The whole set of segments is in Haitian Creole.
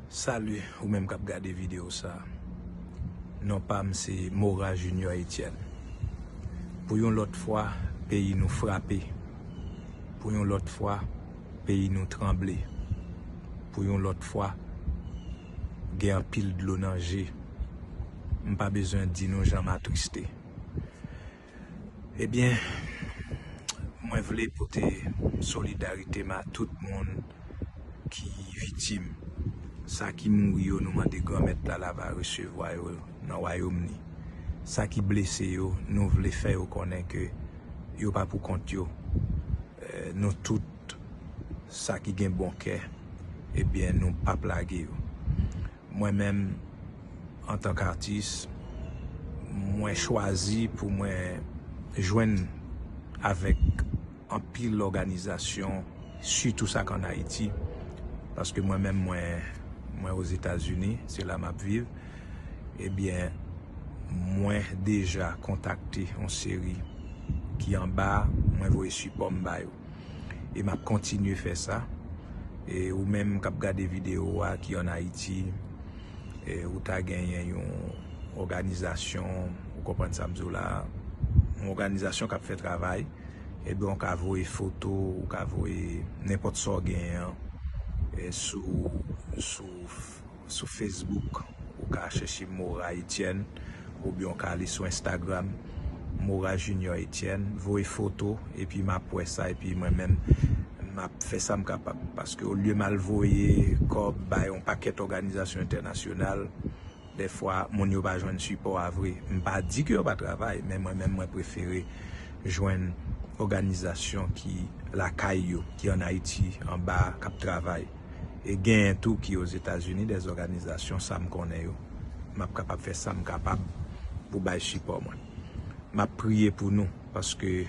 Salut ou menm kap gade video sa non pam se Mora Junior Etienne pou yon lòt fwa peyi nou frape pou yon lòt fwa peyi nou tranble pou yon lòt fwa gen anpil dlo nan je mpa bezwen di nou janm atriste. Ebyen mwen vle pote solidarite m a tout moun ki viktim, sa ki mouri yo nou mande Granmèt la la va resevwa yo nan wayom ni, sa ki blese yo nou vle fè yo konnen ke yo pa pou kont yo, nou tout sa ki gen bon kè ebyen nou pap lage yo. Mwen menm antank atis, mwen chwazi pou mwen jwenn avèk anpil òganizasyon sitou sa k an Ayiti paske mwen menm mwen Ozetazini, se la m ap viv. Ebyen, mwen deja kontakte yon seri ki anba, mwen voye sipò m ba yo. e map kontinye fè sa e ou menm kap gade video a ki an Haïti e ou ta genyen yon òganizasyon ou konprann sam diw la yon òganizasyon kap fè travay e ben ou ka voye foto ou ka voye nenpòt sa ou genyen an sou Sou Facebook, ou ka chèche Mora Etienne oubyen w ka ale sou Instagram, Mora Junior Etienne. Voye foto epi m ap wè sa epi mwen menm m ap fè sa m kapab. Paske olye m al voye kòb bay yon pakèt òganizasyon entènasyonal, dèfwa moun yo pa jwenn sipò a vre. M pa di ke yo pa travay, men mwen menm mwen prefere jwenn òganizasyon ki lakay yo, ki ann Ayiti, anba, k ap travay. e genyen tou ki Ozetazini des òganizasyon sa m konnen yo, m ap kapab fè sa m kapab pou bay sipò mwen. M ap priye pou nou paske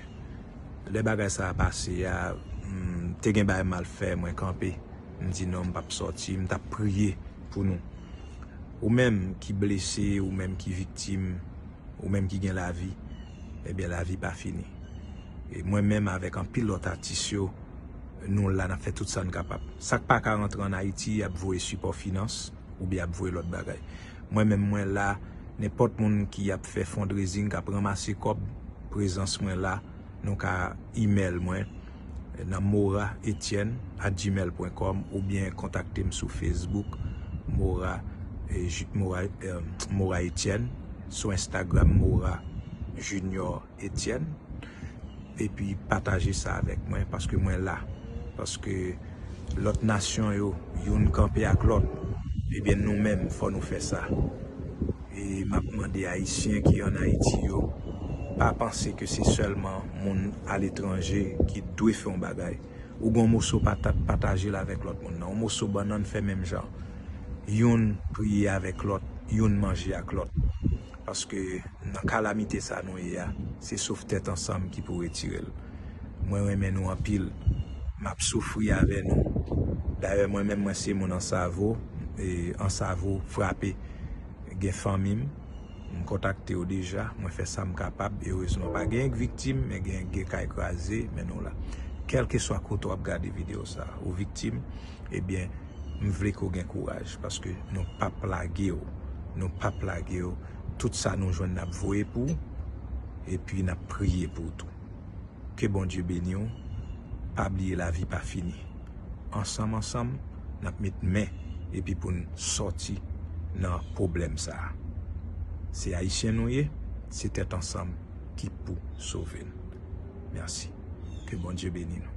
lè bagay sa a pase a m te gen bagay m al fè mwen kanpe m di non m p ap sòti m t ap priye pou nou. Ou menm ki blese, ou menm ki viktim, ou menm ki gen lavi. Ebyen lavi pa fini. E mwen menm avèk anpil lòt atis yo, nou la n ap fè tout sa n kapab. Sa k pa ka rantre ann Ayiti y ap voye sipò finans oubyen y ap voye lòt bagay. Mwen menm mwen la, nenpòt moun ki ap fè fondrezing, k ap ranmase kòb, prezans mwen la, nou ka imèl mwen. nan mora etienne at gmail pwen kòm ou byen kontakte m sou facebook mora mora etienne sou instagram mora junior etienne epi pataje sa avèk mwen paske mwen la paske lòt nasyon yo youn kanpe ak lòt ebyen nou menm fò nou fè sa. E map mande ayisyen ki an Ayiti yo pa panse ke se sèlman moun aletranje ki dwe fè yon bagay. Ou gen yon moso patat, pataje l avèk lòt moun nan. Yon moso bannann fè menm jan. Youn priye avèk lòt, youn manje ak lòt. Paske nan kalamite sa nou ye a, se sof tèt ansanm ki pou retire l. Mwen renmen nou anpil. Map soufri avè nou. Dayè mwen menm mwen se moun Ansavo e Ansavo frape. gen fanmi m, m kontakte yo deja, mwen fè sa m kapab, erezman pa gen k viktim, men gen gen kay kraze, men nou la. Kèlkeswa kote w ap gade videyo sa, ou viktim, ebyen m vle ke w gen kouraj, paske nou p ap lage w, nou p ap lage w, tout sa nou jwenn n ap voye pou w, epi n ap priye pou w tou. Ke Bondye beni w, pa bliye lavi pa fini. Ansanm ansanm nap met men epi pou n sòti nan pwoblèm sa. Se ayisyen nou ye, se tèt ansanm ki pou sove n. Mèsi. Ke Bondye beni nou.